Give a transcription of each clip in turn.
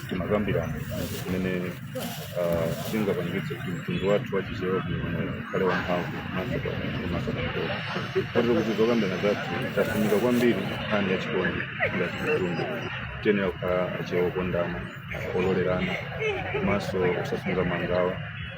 timakambirana zimene ah, zingapangitse kuti mtundu wathu wa chichewa kuno ukhale wamphamvu komanso komanso pakhola kotero kuti zokambirana zathu tasumika kwambiri nkhani ya chikondi ngati mtundu tiyenera kukhala achewa okondana ololerana komanso osasunga mangawa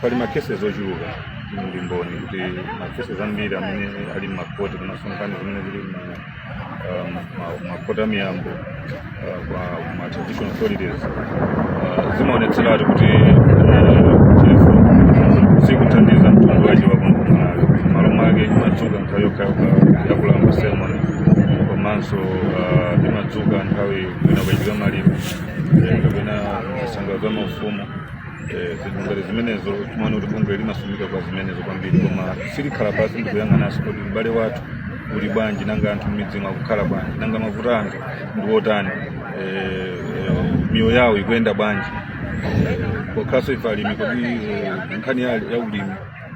pali ma cases ochuluka ndi mboni kuti ma cases ambiri amene ali m'makoti komanso nkhani zimene zili mu- ah, ma- ma- makoti a miyambo ah, kwa ma traditional authorities ah, zimaonetseratu kuti sikuthandiza mtundu wachewa ku malawi malo mwake imadzuka nthawi yokhayokha ya kulamba ceremony komanso ah, imadzuka nthawi kwina kwachitika maliro eh, kapena zisankho za maufumu Eh, zinthu ngati zimenezo timaona kuti bungwe limasumika kwa zimenezo kwambiri koma silikhala pasi ndikuyang'ananso kuti ubale wathu uli bwanji nanga anthu m'midzimu akukhala bwanji nanga mavuto a anthu ndi otani Eh, eh, miyoyo yawo ikuyenda bwanji Eh, pokhalanso ife alimi kodi eh, nkhani ya ya ulimi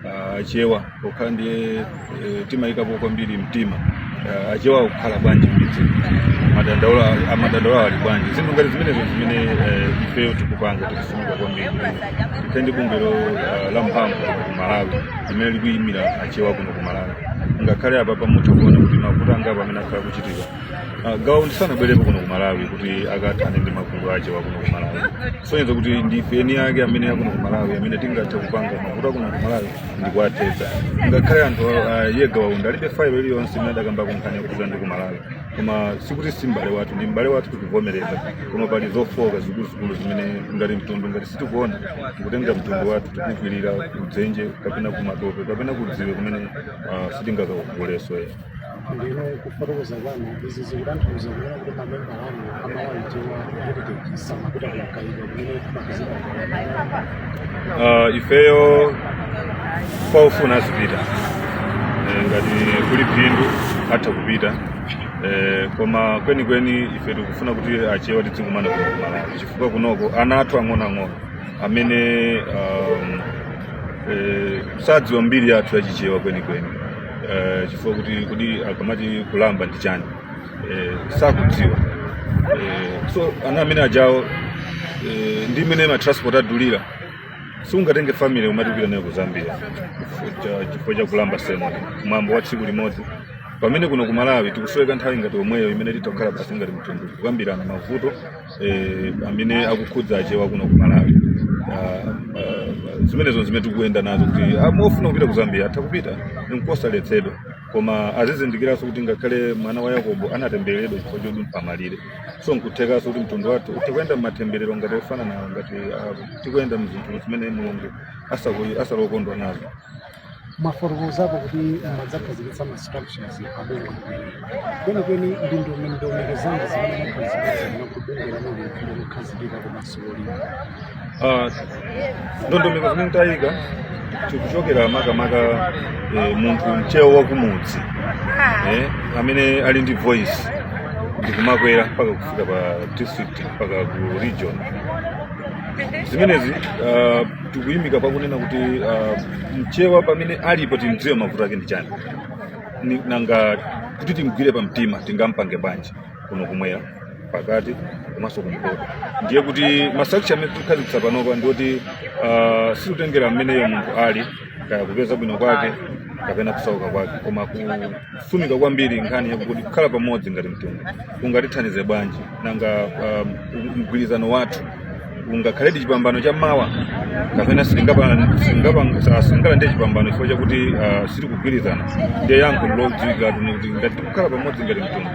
Ah, achewa pokhala ndiye eh, timayikapo kwambiri mtima Ah, achewa akukhala bwanji m'midzi madandaulo amadandaulo ali bwanji zinthu ngati zimenezo zimene eh, ifeyo tikupanga tikufunika kwambiri tikhale ndi bungwe lo- ah, la mphamvu ku malawi limene likuyimira achewa kuno ku malawi ngakhale apapa mutha kuona kuti mavuto angapo amene akhala kuchitika Ah, gawa undi sanabwerepo kuno ku malawi kuti akathane ndi mavuto achewa kuno ku malawi sonyeza kuti ndife eni ake amene akuno ku malawi amene tingathe kupanga mavuto akuno ku malawi ndikuwathetsa ngakhale anthu ah, iye gawa undi alibe failo iliyonse imene adakambako nkhani yokhudza ndi ku malawi koma sikuti si m'bale wathu ndi m'bale wathu tikuvomereza koma pali zofooka zikuluzikulu zimene ngati mtundu ngati sitikuona tikutenga mtundu wathu tikukwirira kudzenje kapena kumatope kapena kudziwe kumene ah, sitingakakugoleso ndiyeno kufotokoza kwanu izi zikutanthauza kunena kuti mamemba anu a malawi chewa heritage samapita ku mkaika kumene kumapezeka uh, ifeyo kwa ofuna azipita Eh, ngati kuli phindu atha kupita Eh, koma kwenikweni ife tikufuna kuti achewa tidzikumana kuno ku Malawi chifukwa kunoko ana athu ang'onoang'ono amene um, eh, sadziwa mbiri yathu yachichewa kwenikweni eh, chifukwa kuti kodi akamati kulamba ndi chani eh, sakudziwa eh, so ana amene ajawo eh, ndi mmene matransport adulira sungatenge family umati kupita nayo ku zambia Cha- chifukwa cha kulamba ceremony mwambo wa tsiku limodzi pamene kuno ku malawi tikusoweka nthawi ngati yomweyo imene titakhala pasi ngati mtundu kukambirana mavuto eh, amene akukhudza achewa kuno ku malawi Ah, ah, zimenezo zimene tikuyenda nazo kuti ah, ofuna kupita ku zambia atha kupita nkosaletsedwa koma azizindikiranso kuti ngakhale mwana wa yakobo anatembereredwa chifukwa chodumpha malire so nkuthekanso kuti mtundu wathu tikuyenda m'matemberero ngati ofananawo ngati ah, tikuyenda mzinthu zimene mulungu asaku- asali okondwa nazo mwafotokozapo kuti mwadzakhazikitsa ma structures abungwe kwenikweni ndi ndondomeko zanji zimene mwakhazikitsa kuti bungwe lanuli likukhazikika komanso lolimba Ah, ndondomeko zimene tayika tikuchokera makamaka eh, munthu mchewa wakumudzi eh, amene ali ndi voice ndikumakwera mpaka kufika pa district mpaka ku region zimenezi ah, tikuyimika pakunena kuti uh, mchewa pamene alipo timdziwe mavuto ake ndi chani Ni- nanga kuti timgwire pa mtima tingampange bwanji kuno kumwera pakati komanso kumpoto ndiye kuti ma structure amene tikukhazikitsa panopa ndi oti uh, sitikutengera mmeneyo munthu ali kaya kupeza bwino kwake kapena kusauka kwake koma ku sumika kwambiri nkhani yakuti kukhala pamodzi ngati mtundu kungatithandize bwanji nanga um, mgwirizano wathu ungakhaledi chipambano cha mawa kapena sitingalandire chipambano chifukwa chakuti uh, sitikugwirizana ndiye yankho ndilodziwikiratu kuti ngati tikukhala pamodzi ngati mtundu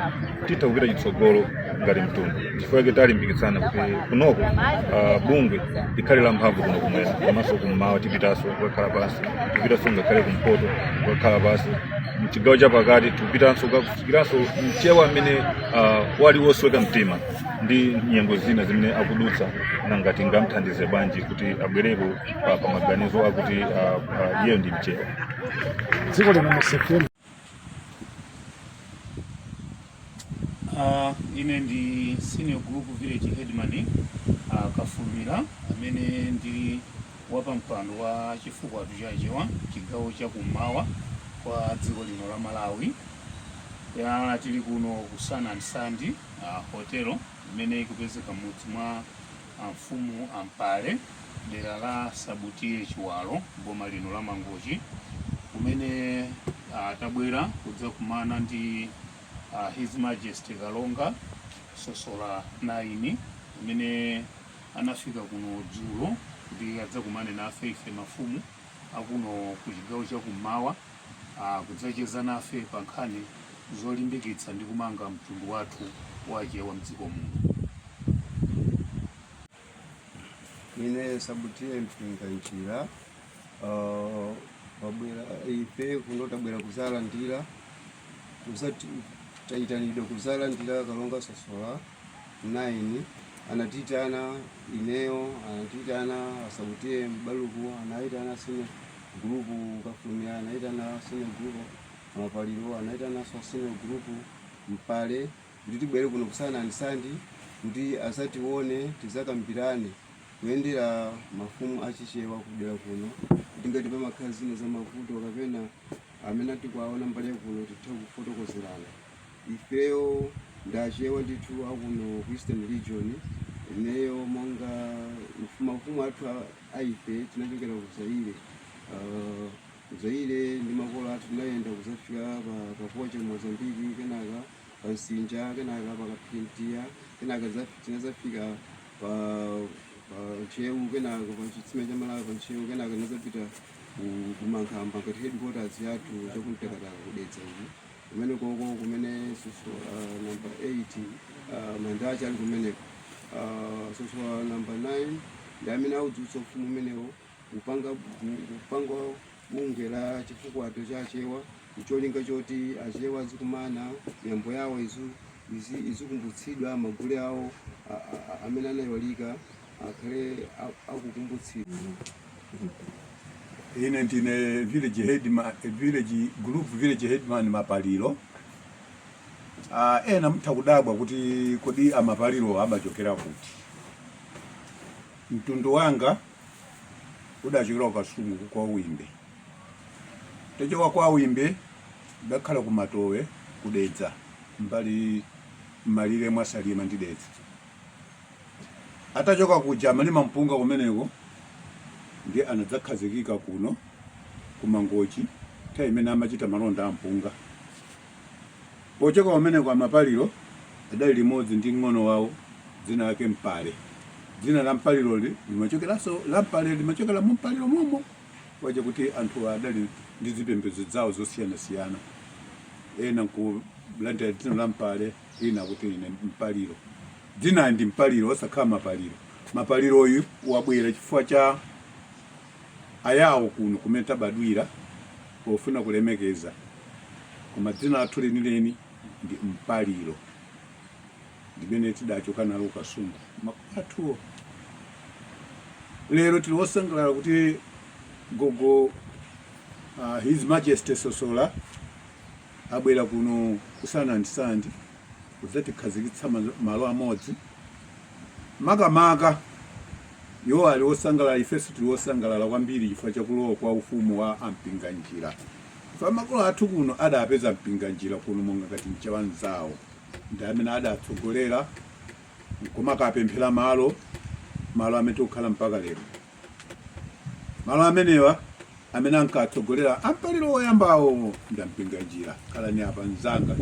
titha kupita chitsogolo ngati mtundu chifukwa chake talimbikitsana kuti kunoko uh, bungwe likhale la mphamvu kuno kumwera komanso kummawa tipitanso kukakhala pansi tipitanso ngakhale kumpoto kukakhala pansi mchigawo cha pakati tikupitanso kukafikiranso mchewa amene uh, ali wosweka mtima ndi nyengo zina zimene akudutsa nanga tingamthandize bwanji kuti abwereko pa, pa maganizo akuti uh, uh, iyeyo ndi mchewa dziko lino musefuna Uh, ine ndi senior group village headman uh, kafulumira amene ndili wapampando wa chifukwato cha achewa chigawo cha kummawa kwa dziko lino la malawi ya tili kuno ku sun and sand uh, hotelo imene ikupezeka mudzi mwa Amfumu a Mpale dera la Sub T/A Chiwalo m'boma lino la Mangochi kumene tabwera kudzakumana ndi uh, His Majesty Kalonga Sosola 9 amene anafika kuno dzulo kuti adzakumane nafe ife mafumu akuno ku chigawo cha kummawa uh, kudzacheza nafe pa nkhani zolimbikitsa ndi kumanga mtundu wathu wachewa mdziko muno. Ine Sub T/A Mpinganjira uh, wabwera ife kuno tabwera kuzalandira kuza- tayitanidwa kuzalandira kalonga sosola 9 anatiyitana ineyo anatiyitana a Sabutiye mbaluku anayitana siniya gulupu kafulumira anayitana siniya gulupu mapaliro anayitananso siniya gulupu mpale kuti tibwere kuno ku Sun and Sand kuti azatione tizakambirane kuyendera mafumu achichewa kudera kuno kuti ngati pamakhala zina za mavuto kapena amene tikuwaona mbali yakuno tithe kufotokozerana ifeyo ndi achewa ndithu akuno ku eastern region ineyo monga mfu- mafumu athu a- a ife tinachokera ku zaire Ah, ku zaire ndi makolo athu tinayenda kuzafika pa- kapoche mozambiki kenaka pa nsinja kenaka pa kaphirintiwa kenaka za- tinazafika pa pa ntcheu kenaka pa chitsime cha malawi pa ntcheu kenaka tinazapita ku- ku mankhamba ngati headquarters yathu chakumtakataka kudedza uku kumenekoko kumene sosola uh, namba 8 uh, manda ake ali kumeneko uh, sosola uh, namba 9 ndi amene audzutsa ufumu umenewo kupanga kupanga bungwe la chifukwato cha achewa ncholinga choti achewa azikumana miyambo yawo izu izi- izikumbutsidwa magule awo a- a- a- amene anaiwalika akhale a- akukumbutsidwa ine ndine village headman group village headman mapaliro Ah, ena mutha kudabwa kuti kodi amapaliro amachokera kuti mtundu wanga udachokera ku kasungu kwa wimbe tachoka kwa wimbe udakhala ku matowe kudedza mbali mmalire mwa salima ndi dedza Atachoka kuja amalima mpunga kumeneko ndiye anadzakhazikika kuno ku Mangochi nthawi imene amachita malonda a mpunga. Pochoka kumeneko a Mapaliro adali limodzi ndi mng'ono wawo dzina lake Mpale. Dzina la Mpaliroli limachokeranso la Mpale limachokera mu Mpaliro momo waja kuti anthuwa adali ndi zipembedzo zawo zosiyanasiyana ena nkulandira dzina la Mpale ena kuti ine Mpaliro. Dzinali ndi Mpaliro osakhala Mapaliro. Mapaliroyu wabwera chifukwa cha Ayawo kuno kumene tabadwira pofuna kulemekeza, koma dzina lathu lenileni ndi Mpaliro limene tidachoka nalo ku Kasungu makolo athuwo. Lero tili osangalala kuti gogo uh, His Majesty Sosola abwera kuno ku Sun and Sand kudzatikhazikitsa malo- malo amodzi makamaka iwo ali osangalala ifenso tili osangalala kwambiri chifukwa chakulowa kwa ufumu wa ampinganjira chifukwa makolo athu kuno adapeza mpinganjira kuno monga ngati mchewa mzawo ndi amene adatsogolera nkumakapemphera malo malo amene tikukhala mpaka lero Malo amenewa amene ankatsogolera ampaliro woyambawo ndi ampinganjira khalani apa mzanga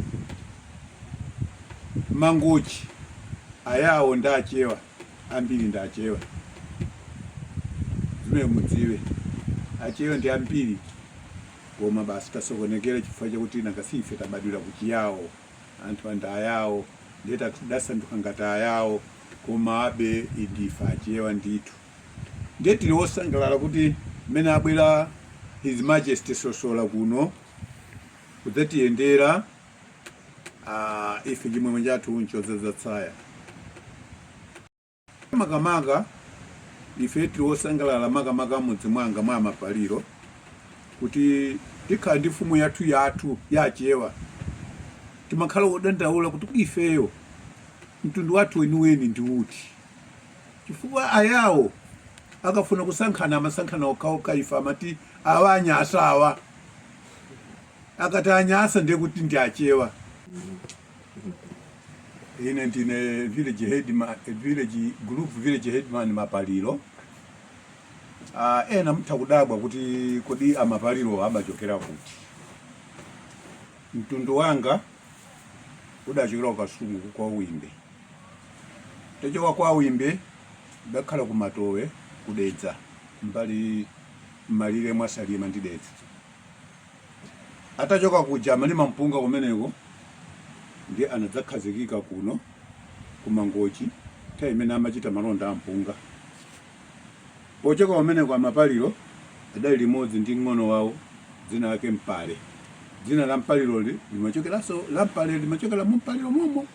mangochi ayawo ndi achewa ambiri ndi achewa zimene mudziwe achewa ndi ambiri koma basi tasokonekera chifukwa chakuti nanga si ife tabadwira kuchiyawo anthu ndi ayawo ndiye tidasanduka ngati ayawo komabe ndife achewa ndithu ndiye tili wosangalala kuti mmene abwera his majesty sosola kuno kudzatiyendera uh, ife chimwemwe chathu nchodzadza tsaya makamaka ife tili osangalala makamaka mudzi mwanga mwa mapaliro kuti tikhala ndi mfumu yathu yathu ya achewa timakhala odandaula kuti kuti ifeyo mtundu wathu weniweni ndi uti chifukwa ayawo akafuna kusankhana amasankhana okhaokha ife amati awa anyasa awa akati anyasa ndiye kuti ndi achewa Ine ndine village headman, village group village headman Mapaliro. Ah, ena mtha kudabwa kuti kodi amapaliro amachokera kuti. Mtundu wanga udachokera ku Kasungu kwa Wimbe. Atachoka kwa Wimbe adakhala ku Matowe ku Dedza mbali mmalire mwa Salima ndi Dedza. Atachoka kuja amalima mpunga kumeneko ndiye anadzakhazikika kuno ku Mangochi nthawi imene amachita malonda a mpunga. Pochoka kumeneko a Mapaliro adali limodzi ndi mng'ono wawo dzina lake Mpale. Dzina la Mpaliroli limachokeranso la Mpale limachokera mu Mpaliro momo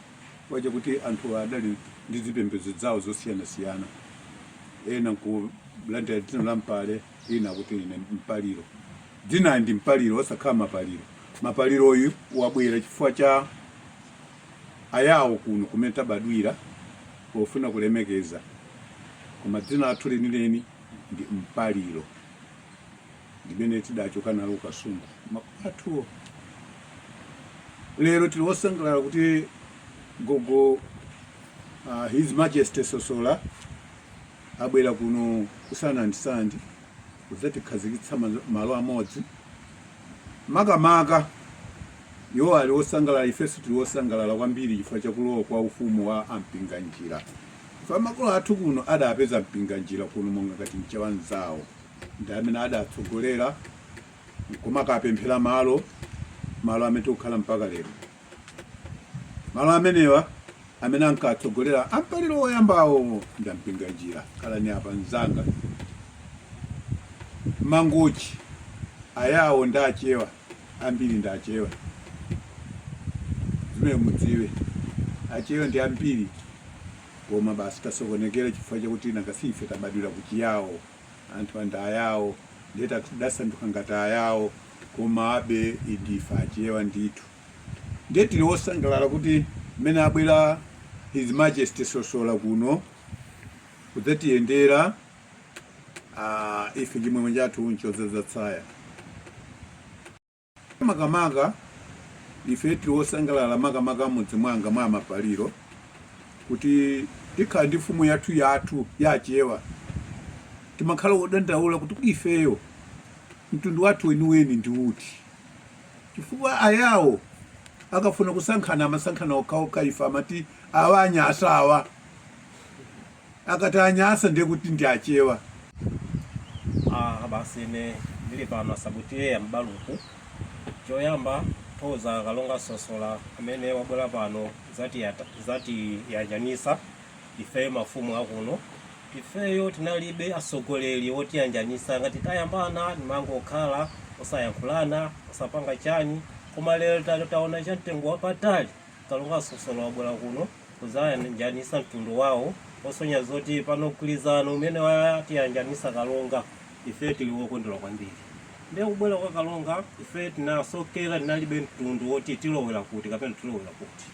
chifukwa chakuti anthuwa adali ndi zipembedzo zawo zosiyanasiyana ena kulandira dzina la Mpale ena akuti ine mpaliro dzina ndi mpaliro osakhala mapaliro mapaliro uyu wabwera chifukwa cha ayawo kuno kumene tabadwira pofuna kulemekeza koma dzina lathu lenileni ndi mpaliro limene tidachoka nalo kukasungu makolo athuwo lero tili osangalala kuti gogo uh, his majesty sosola abwera kuno ku sanandisandi kudzatikhazikitsa ma- malo amodzi makamaka iwo ali osangalala ifenso tili osangalala kwambiri chifukwa chakulowa kwa ufumu wa ampinganjira chifukwa makolo athu kuno adapeza mpinganjira kuno monga ngati mchewa mzawo ndi amene adatsogolera nkumakapemphera malo, malo amene tikukhala mpaka lero Malo amenewa amene ankatsogolera amapaliro woyambawo ndi ampinganjira khalani apa mzanga mangochi ayawo ndi achewa ambiri ndi achewa zimene mudziwe achewa ndi ambiri koma basi tasokonekera chifukwa chakuti nanga si ife tabadwira kuchiyawo anthu andi ayawo ndiye tasanduka ngati ayawo komabe ndife achewa ndithu ndiye tili wosangalala kuti mmene abwera his majesty sosola kuno kudzatiyendera uh, ife chimwemwe chathu nchodzaza tsaya makamaka ife tili osangalala makamaka m'mudzi mwanga mwa mapaliro kuti tikhala ndi mfumu yathu yathu ya achewa timakhala odandaula kuti kuti ifeyo mtundu wathu weniweni ndi uti chifukwa ayawo akafuna kusankhana amasankhana okhaokha ife amati awa anyasa awa akati anyasa ndiye kuti ndi achewa Ah, basi ine ndili pano a sabu tiye ya mbaluku choyamba thokoza kalonga sosola amene wabwera pano zatiyata- zatiyanjanisa ifeyo mafumu akuno ifeyo tinalibe atsogoleri otiyanjanisa ngati tayambana timangokhala osayankhulana osapanga chani koma lero ta- taona cha mtengo wapatali Kalonga Sosola wabwera kuno kuzayanjanisa mtundu wawo osonya zoti pano mgwirizano umene watiyanjanisa Kalonga ife tili wokondwera kwambiri ndiye kubwera kwa Kalonga ife tinasokera tinalibe mtundu woti tilowera kuti kapena tilowera kuti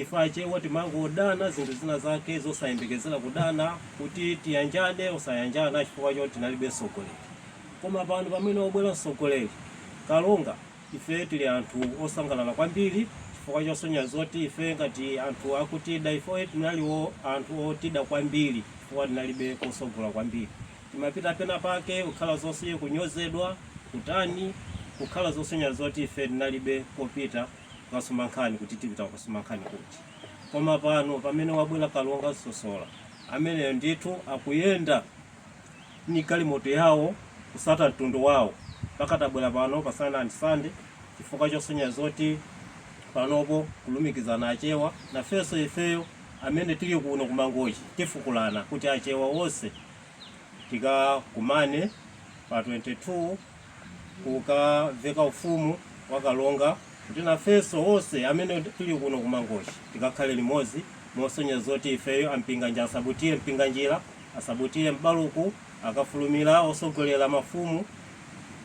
ife achewa timangodana zinthu zina zake zosayembekezera kudana kuti tiyanjane osayanjana chifukwa choti tinalibe mtsogoleri koma pano pamene wabwera mtsogoleri Kalonga Ife tili anthu osangalala kwambiri chifukwa chosonya zoti ife ngati anthu akutida ifeyo tinalipo anthu otida kwambiri chifukwa tinalibe kosogola kwambiri timapita pena pake kukhala zonse kunyozedwa kutani kukhala zosonya zoti ife tinalibe kopita kukasuma nkhani kuti tipita kukasuma nkhani kuti koma pano pamene wabwera kalonga sosola ameneyo ndithu akuyenda ni galimoto yawo kusata mtundu wawo mpaka tabwera pano pa Sun and Sand chifukwa chosonyeza zoti panopo kulumikizana achewa nafenso ifeyo amene tili kuno kumangochi tikufuna kuti achewa wonse tikakumane pa 22 kukaveka ufumu wa kalonga kuti nafenso onse amene tili kuno kumangochi tikakhale limodzi mosonyeza zoti ifeyo a Mpinganjira asabutiye mpinganjira asabutiye m'baluku akafulumira osogolera mafumu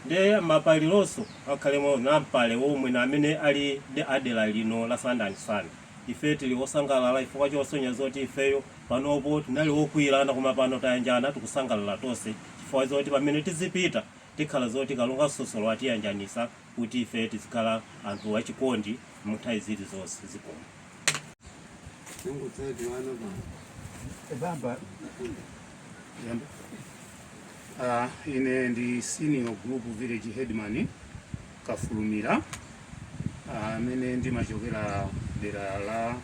ndi ma Phiri onse akhalemo anambale omwe na amene ali a dera lino la Sun and Sand Ife tili osangalala chifukwa chosonyeza zoti ifeyo panopo tinali okwiyirana koma pano tayanjana tikusangalala tonse chifukwa zoti pamene tizipita tikhala zoti Kalonga Sosola atiyanjanisa kuti ife tizikhala anthu achikondi mnthawi zili zonse. Zikomo. Ine ndi Senior Group Village Headman Kafulumira amene ndimachokera dera la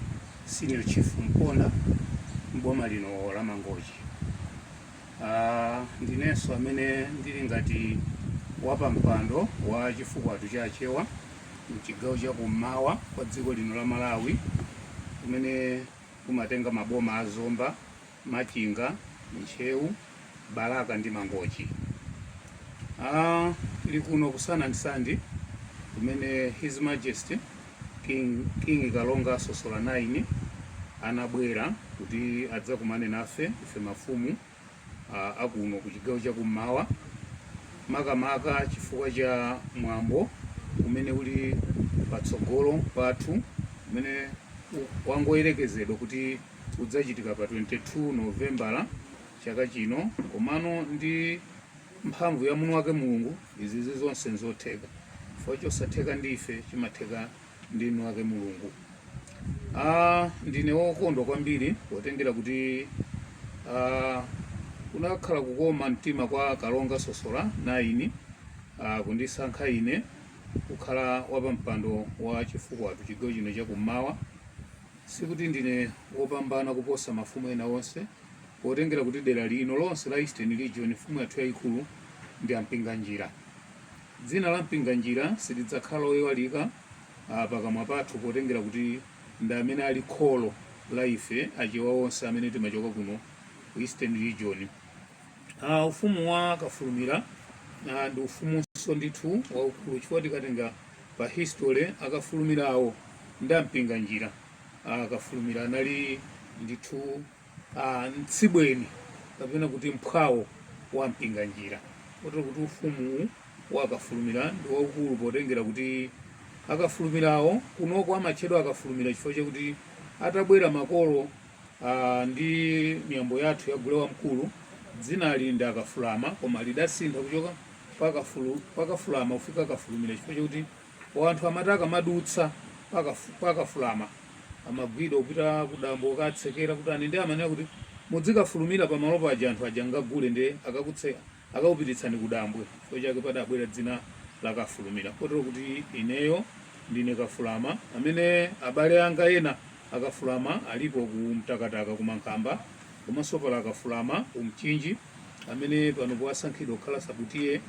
Senior Chief Mponda m'boma lino la Mangochi. Ah, ndinenso amene ndili ngati wapampando wa Chifukwato cha Achewa mchigawo cha kummawa kwa dziko lino la Malawi kumene kumatenga maboma a Zomba, Machinga, Ntcheu, Balaka ndi Mangochi. Uh, tili kuno ku Sun and Sand kumene His Majesty King, King Kalonga Sosola 9 anabwera kuti adzakumane nafe ife mafumu uh, akuno ku chigawo cha kummawa makamaka chifukwa cha mwambo umene uli patsogolo pathu umene wangoyerekezedwa kuti udzachitika pa 22 Novembala chaka chino komano ndi mphamvu ya mwini wake Mulungu izizi zonse nzotheka chifukwa chosatheka ndi ife chimatheka ndi mwini wake Mulungu. Ah, ndine wokondwa kwambiri potengera kuti ah, kunakhala kukoma mtima kwa Kalonga Sosola 9 ah, kundisankha ine kukhala wapampando wa Chifukwato chigawo chino chakummawa Sikuti ndine wopambana kuposa mafumu ena onse, potengera kuti dera lino lonse la Eastern Region mfumu yathu yayikulu ndi a Mpinganjira. Dzina la Mpinganjira silidzakhala loiwalika ah, pakamwa pathu potengera kuti ndi amene ali kholo la ife Achewa onse amene timachoka kuno ku Eastern Region. Ah, ufumu wa Kafulumira ah, ndi ufumunso ndithu waukulu chifukwa tikatenga Pa History akafulumirawo ndi a Mpinganjira a kafulumira anali ndithu mtsibweni kapena kuti mphwawo wa Mpinganjira kotero kuti ufumu wa Kafulumira ndi waukulu potengera kuti akafulumirawo kunoko amatchedwa akafulumira chifukwa chakuti atabwera makolo ndi miyambo yathu ya gule wamkulu dzinali ndi akafulama koma lidasintha kuchoka pakafulu pakafulama kufika kafulumira chifukwa chakuti wanthu amati akamadutsa pakafu- pakafulama amagwidwa kupita kudambwe kukatsekera kuti ani ndi amanena kuti mudzikafulumira pamalo paja anthu aja ngagule ndiye akakutse akakupititsani kudambwe chifukwa chake padabwera dzina la kafulumira kotero kuti ineyo ndine kafulama amene abale anga ena Akafulama alipo ku Mtakataka ku Mankhamba komanso pali Akafulama ku Mchinji amene panopo asankhidwa kukhala Sub T/A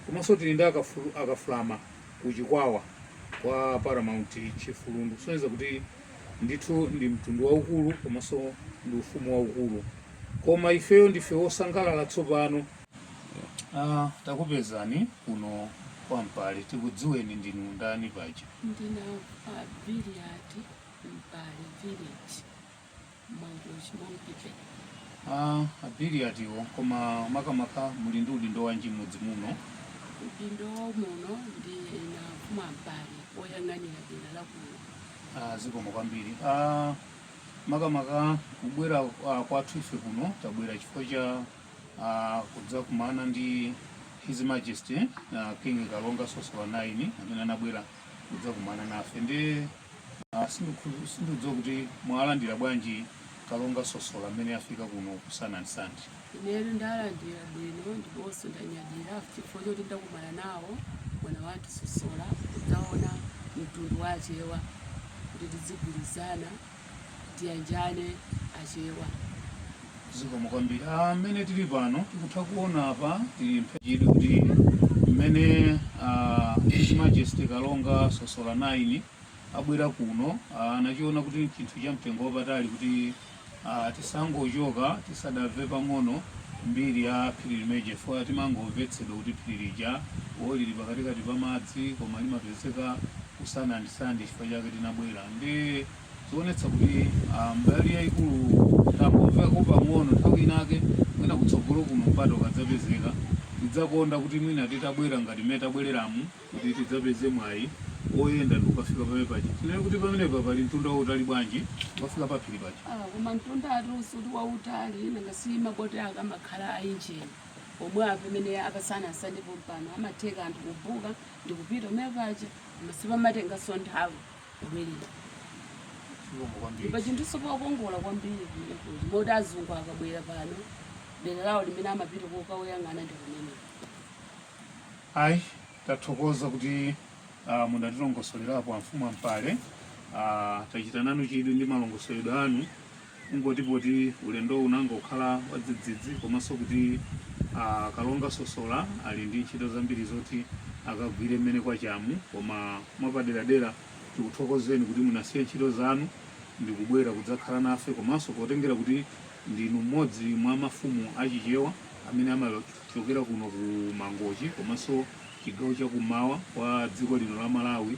komanso tili ndi Akafulama ku Chikwawa kwa Paramount Chief Lundu kusonyeza kuti ndithu ndi mtundu waukulu komanso ndi ufumu waukulu koma ifeyo ndife wosangalala tsopano Ah, takupezani kuno kwa Mpale tikudziweni ndinu ndani paja ndine a Biliyati Mpale village Mangochi Monkey Bay Ah, a Biliyatiwo koma makamaka muli ndi udindo wanji m'mudzi muno udindo muno ndine mfumu Mpale oyang'anira dera la kuno Ah, zikomo kwambiri Ah, makamaka kubwera ah, kwathu ife kuno tabwera chifukwa cha ah, kudzakumana ndi his majesty ah, king kalonga sosola 9 amene anabwera kudzakumana nafe ndi Ah, sindikhulu- sindidziwa kuti mwalandira bwanji kalonga sosola amene afika kuno ku Sun and Sand ineyo ndalandira bwino ndiponso ndanyadira chifukwa choti ndakumana nawo mwana wathu sosola kudzaona mtundu wa achewa kuti tidzigwirizana tiyanjane achewa Zikomo kwambiri. Ah, mmene tili pano tikutha kuona apa tili pachidwi kuti mmene ah, His Majesty Kalonga Sosola 9 abwera kuno ah, anachiona kuti ndi chinthu cha mtengo wapatali kuti ah, tisangochoka tisadamve pang'ono mbiri ya phiri limeneja chifukwa timangomvetsedwa kuti phiri lija wo lili pakatikati pa madzi koma limapezeka ku Sun and Sand chifukwa chake tinabwera ndi Zikuonetsa kuti ah, mbali yayikulu tangomvako pang'ono nthawi inake mwina kutsogolo kuno mpata ukadzapezeka tidzakonda kuti mwina titabwera ngati mmene tabwereramu kuti tidzapeze mwayi oyenda ndikukafika pamene paja tinene kuti pamenepa pali mtunda wautali bwanji ukafika paphiri paja Ah, koma mtunda awutu si kuti wautali nanga si maboti ake amakhala a injini omwe apamene apasana asandipo mpano amatheka anthu kubuka ndikupita umene paja koma sipamatenganso nthawi Kumene. Chilombo kwambiri. Ndipo chinthu so chokongola kwambiri kumeneko. Moti azungu akabwera pano. Dera lawo limene amapita kokayang'ana ndi kumene. Ayi, tathokoza kuti ah, mudatilongosolerapo amfumu a Mpale. Ah, tachita nanu chidwi ndi malongosoledwe anu kungoti poti ulendowu unangokhala wadzidzidzi komanso kuti a kalonga sosola ali ndi ntchito zambiri zoti akagwire mmene kwachamu koma mwapaderadera tikuthokozeni kuti munasiya ntchito zanu ndi kubwera kudzakhala nafe komanso potengera kuti ndinu mmodzi mwa mafumu achichewa amene amachokera kuno ku mangochi komanso chigawo chakumawa kwa dziko lino la malawi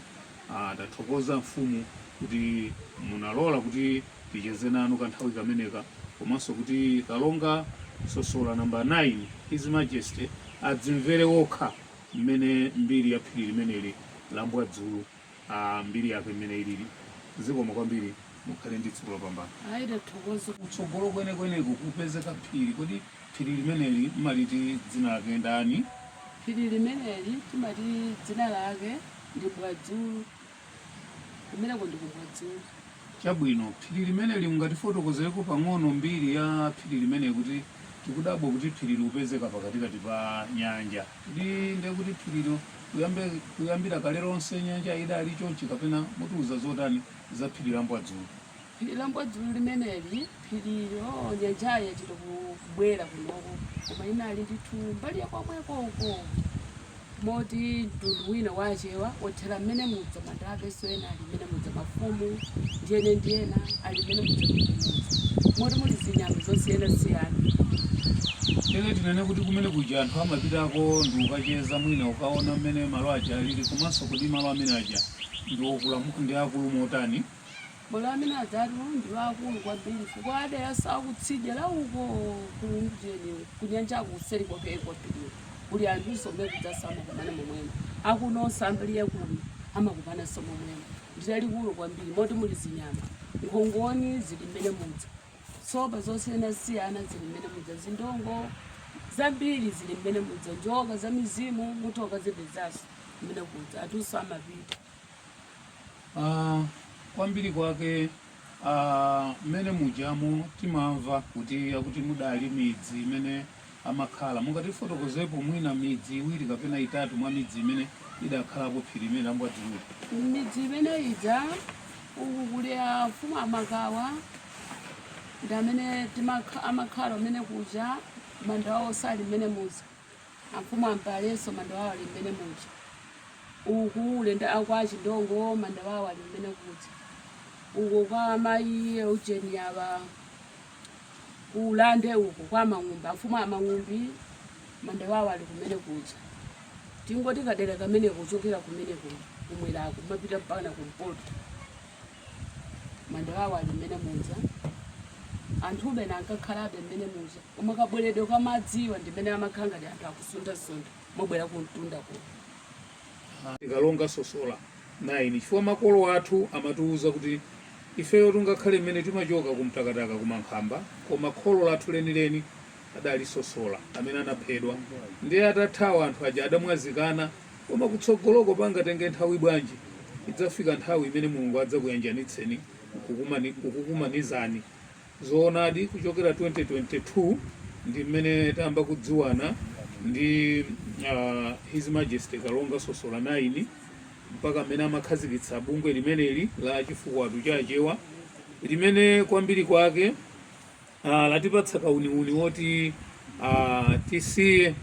Ah, tathokoza mfumu kuti munalola kuti ticheze nanu kanthawi kameneka komanso kuti kalonga sosola namba 9 his majesty adzimvere okha mmene mbiri ya phiri limeneli la mbwadzulu ah, mbiri yake mmene ilili zikomo kwambiri mukhale ndi tsiku lopambana ayi tathokoza kutsogolo kwenekweneko kupezeka phiri kodi phiri limeneli mumaliti dzina lake ndani phiri limeneli timati dzina lake ndi mbwadzulu Kumeneko ndi ku Mbwadzulu. Chabwino. Phiri limeneli mungatifotokozereko pang'ono mbiri ya phiri limeneli kuti tikudabwa kuti phiri likupezeka pakatikati pa nyanja. Kodi ndiye kuti phirilo kuyambe kuyambira kale lonse nyanja idali chonchi kapena mutiuza zotani za phiri la Mbwadzulu? phiri la mbwadzulu limeneli phirilo nyanjayi yachita kubwera kunoko koma inali ndithu mbali ya kwamweko uko moti mtundu wina wa achewa othera mmene muja mandapeso ena ali mmene muja mafumu ndiyene ndiyena ali mmene muja muja moti muli zinyama zosiyanasiyana Tene tinene kuti kumene kuja anthu amapitako ndi kukacheza mwina kukaona mmene malo aja alili komanso kuti malo amene aja ndi okula ndi akulu motani Malo amene ajatu ndi aakulu kwambiri chifukwa a dera nso lakutsidya la uko kumjeni kunyanjako kuseri kwakeko phiri kuli anthuso omwe kujaso amakumana momwemo akunonso ambiriye kuno amakumananso momwemo ndilalikulu kwambiri moti muli zinyama nkhongoni zili mmene muja sopa zosiyanasiyana zili mmene muja zindongo zambiri zili mmene muja njoka za mizimu mutha kazipezanso mmene kuja anthunso amapita Ah, kwambiri kwake ah, mmene mujamo timamva kuti akuti mudali midzi imene amakhala mungatifotokozepo mwina midzi iwiri kapena itatu mwa midzi imene idakhalapo phiri limeneli la Mbwadzulu midzi imene ija uku kuli afumu amakawa ndi amene timakha- amakhala kumene kuja manda awo ali mmene muja amfumu a Mpalenso manda wawo ali mmene muja uku ulenda kwa a Chindongo manda wawo ali kumene kuja uko kwa mayi Eugeni aba kulande uko kwa Mang'umbi amfumu a Mang'umbi manda wawo ali kumene kuja tingoti kadera kameneko kuchokera kumene ku- kumwerako kumapita mpakana kumpoto manda awo ali mmene muja anthu ena ankakhalabe mmene muja koma kabweredwe kwa madziwa ndi mmene amakhala ngati anthu akusunthasuntha mobwera kumtunda kuno Kalonga Sosola 9 chifukwa makolo athu amatiwuza kuti ifeyo tingakhale mmene timachoka ku Mtakataka ku Mankhamba koma kholo lathu lenileni adali Sosola amene anaphedwa ndiye atathawa anthu aja adamwazikana Koma kutsogoloko pangatenge nthawi bwanji, idzafika nthawi imene Mulungu adzakuyanjanitseni nkukumani- nkukukumanizani. Zoonadi kuchokera 2022 ndi mmene tayamba kudziwana ndi a His Majesty Kalonga Sosola 9 mpaka mmene amakhazikitsa bungwe limeneli la Chifukwato cha Achewa limene kwambiri kwake, Ah, latipatsa kauniuni woti ah, tisiye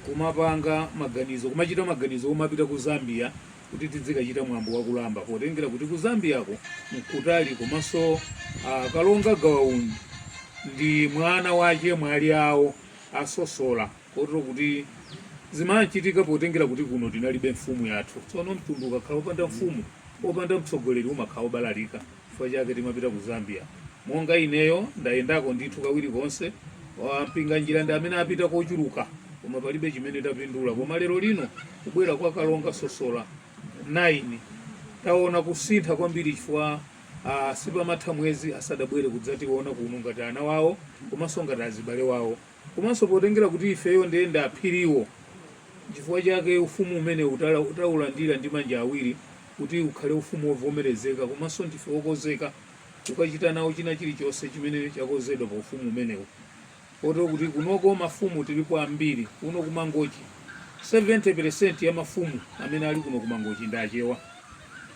kumapanga maganizo kumachita maganizo omapita ku Zambia kuti tidzikachita mwambo wa Kulamba potengera kuti ku Zambiako n'kutali komanso ah, Kalonga Gawa Undi ndi mwana wache mwali awo a Sosola kotero kuti zimachitika potengera kuti kuno tinalibe mfumu yathu tsono mtundu ukakhala opanda mfumu opanda mtsogoleri umakhala wobalalika Chifukwa chake timapita ku Zambia. Monga ineyo ndayendako ndithu kawiri konse. A Mpinganjira ndi amene apita kochuluka, koma palibe chimene tapindula. Koma lero lino kubwera kwa Kalonga Sosola 9 taona kusintha kwambiri chifukwa ah, sipamatha mwezi asadabwere kudzationa kuno ngati ana wawo komanso ngati azibale wawo komanso potengera kuti ifeyo ndiye ndi a Phiriwo chifukwa chake ufumu umene tala- taulandira ndi manja awiri kuti ukhale ufumu wovomerezeka komanso ndife okonzeka kukachita nawo china chilichonse chimene chakonzedwa pa ufumu umenewu kotero kuti kunoko mafumu tilipo ambiri kuno ku Mangochi 70% ya mafumu amene ali kuno ku Mangochi ndi Achewa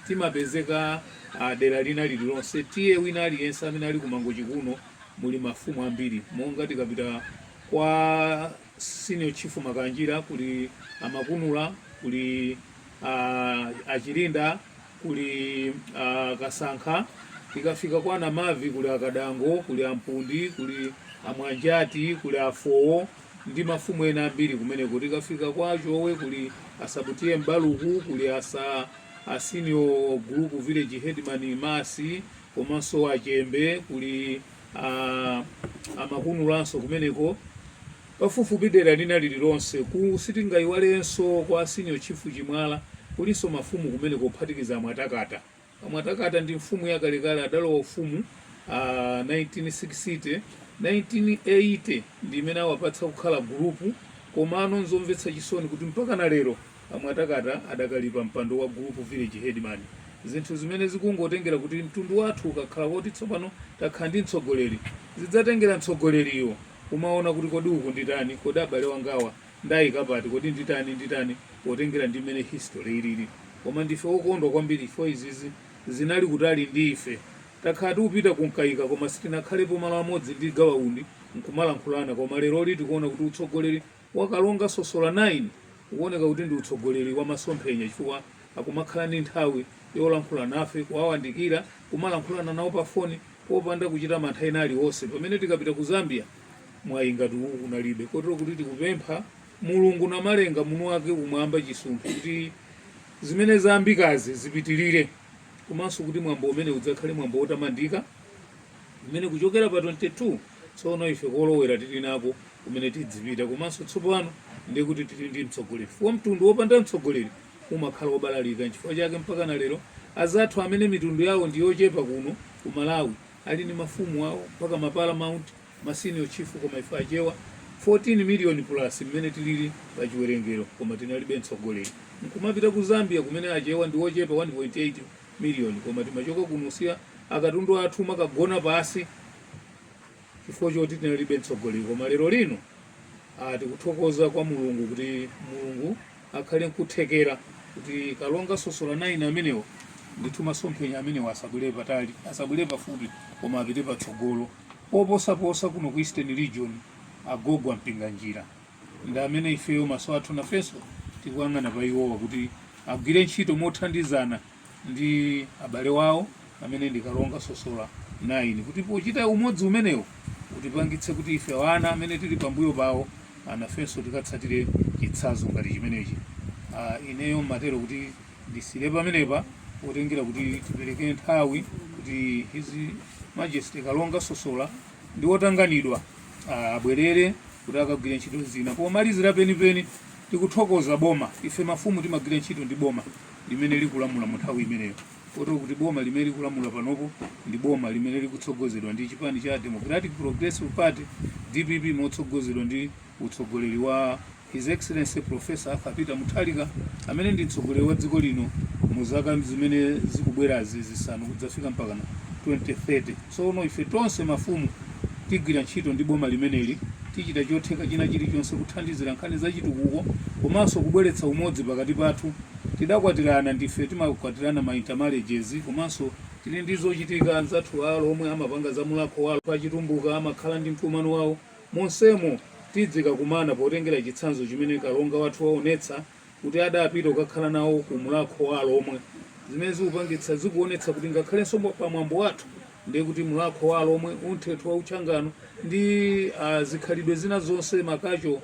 timapezeka ah, dera lina lililonse T/A wina aliyense amene ali ku Mangochi kuno muli mafumu ambiri monga tikapita kwa Senior Chief Makanjira, kuli a Makunula, kuli a, a Chilinda, kuli a Kasankha, tikafika kwa Namavi kuli a Kadango, kuli a Mpundi, kuli a Mwanjati, kuli a Fowo ndi mafumu ena ambiri kumeneko. Tikafika kwa Chowe kuli a Sabutiye Mbaluku, kuli asa a senior group village headman Masi, komanso a Chembe kuli a Makunulanso kumeneko pafupifupi dera lina lililonse, ku, sitingaiwalenso kwa senior chief Chimwala kulinso mafumu kumeneko kuphatikiza a Mwatakata a Mwatakata ndi mfumu yakalekale adalowa ufumu a 1960 1980 ndi imene awapatsa kukhala gulupu komano n'zomvetsa chisoni kuti mpaka na lero A Mwatakata adakali pa mpando wa Gulupu Village Headman. Zinthu zimene zikungotengera kuti mtundu wathu ukakhala woti tsopano takhala ndi mtsogoleri, zidzatengera mtsogoleriyo kumaona kuti kodi uku nditani, kodi abale wangawa ndaika pati, kodi nditani nditani potengera ndi mmene history ilili. Koma ndife okondwa kwambiri chifukwa izizi zinali kutali ndi ife. Takhala tikupita ku Mkaika koma sitinakhalepo malo amodzi ndi Gawa Undi n'kumalankhulana koma leroli tikuona kuti utsogoleri wa Kalonga Sosola 9 ukuoneka kuti ndi utsogoleri wa masomphenya chifukwa akumakhala ndi nthawi yolankhula nafe, kuwawandikira, kumalankhulana nawo pa foni popanda kuchita mantha ena aliwonse pamene tikapita ku Zambia mwayi ngati uwu kunalibe kotero kuti tikupempha Mulungu Namalenga mwini wake kumwamba chisumphi kuti zimene zayambikazi zipitilire komanso kuti mwambo umenewu udzakhale mwambo wotamandika. umene kuchokera pa 22 tsono ife kolowera tili nako kumene tidzipita komanso tsopano ndiye kuti tili ndi mtsogoleri chifukwa mtundu wopanda mtsogoleri umakhala wobalalika nchifukwa chake mpaka na lero azathu amene mitundu yawo ndi yochepa kuno ku malawi ali ndi mafumu awo mpaka maparamount masenior chief koma ife achewa 14 million plus mmene tilili pa chiwerengero koma tinalibe mtsogoleri nkumapita ku zambia kumene achewa ndi wochepa 1.8 miliyoni koma timachoka kunkasiya akatundu athu kumakagona pasi chifukwa choti tinalibe mtsogoleri koma lero lino ah, tikuthokoza kwa mulungu kuti mulungu akhale nkuthekera kuti kalonga sosola naini amenewo ndithu masomphenya amenewo asabwere patali asabwere pafupi koma apite patsogolo poposaposa kuno ku eastern region agogo a Mpinganjira ndi amene ifeyo maso athu nafenso tikuyang'ana pa iwowa kuti agwire ntchito mothandizana ndi abale wawo amene ndi kalonga sosola 9 kuti pochita umodzi umenewo utipangitse kuti ife ana amene tili pambuyo pawo nafenso tikatsatire chitsanzo ngati chimenechi Ah, ineyo ndimatero kuti ndisiyire pamenepa potengera kuti tipereke nthawi kuti His Majesty kalonga sosola ndi wotanganidwa abwerere kuti akagwire ntchito zina pomalizira penipeni tikuthokoza boma ife mafumu timagwira ntchito ndi boma limene likulamula mu nthawi imeneyo kotero kuti boma limene likulamula panopo ndi boma limene likutsogozedwa ndi chipani cha democratic progressive party dpp motsogozedwa ndi utsogoleri wa His Excellency Prof. Arthur Peter Mutharika amene ndi mtsogoleri wa dziko lino mu zaka zimene zikubwerazi zisanu kudzafika mpaka 2030. Tsono ife tonse mafumu tigwira ntchito ndi boma limeneli, tichita chotheka china chilichonse kuthandizira nkhani za chitukuko komanso kubweretsa umodzi pakati pathu. Tidakwatirana, ndife timakwatirana ma intermarriages komanso. Tili ndi zochitika, anzathu a Alhomwe amapanga za Mulakho wawo a Chitumbuka amakhala ndi mkumano wawo. Monsemo tidzikakumana potengera chitsanzo chimene Kalonga wathu waonetsa kuti adapita kukakhala nawo ku Mlakho wa Alomwe. Zimene zikupangitsa zikuonetsa kuti ngakhalenso pa mwambo wathu ndiye kuti Mlakho wa Alomwe, Umthetho wa Uchingoni ndi zikhalidwe zina zonse, ma cultural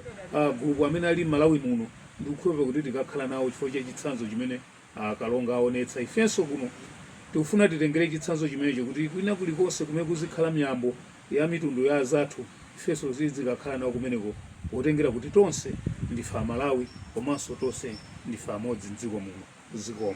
group amene ali m'Malawi muno ndikukhulupirira kuti tikakhala nawo chifukwa cha chitsanzo chimene a Kalonga aonetsa. Ifenso kuno tikufuna titengere chitsanzo chimenecho kuti kwina kulikonse kumene kuzikhala miyambo, ya mitundu ya azathu ifenso tidzikakhala nawo kumeneko potengera kuti tonse ndife amalawi komanso tonse ndife amodzi mdziko muno zikomo.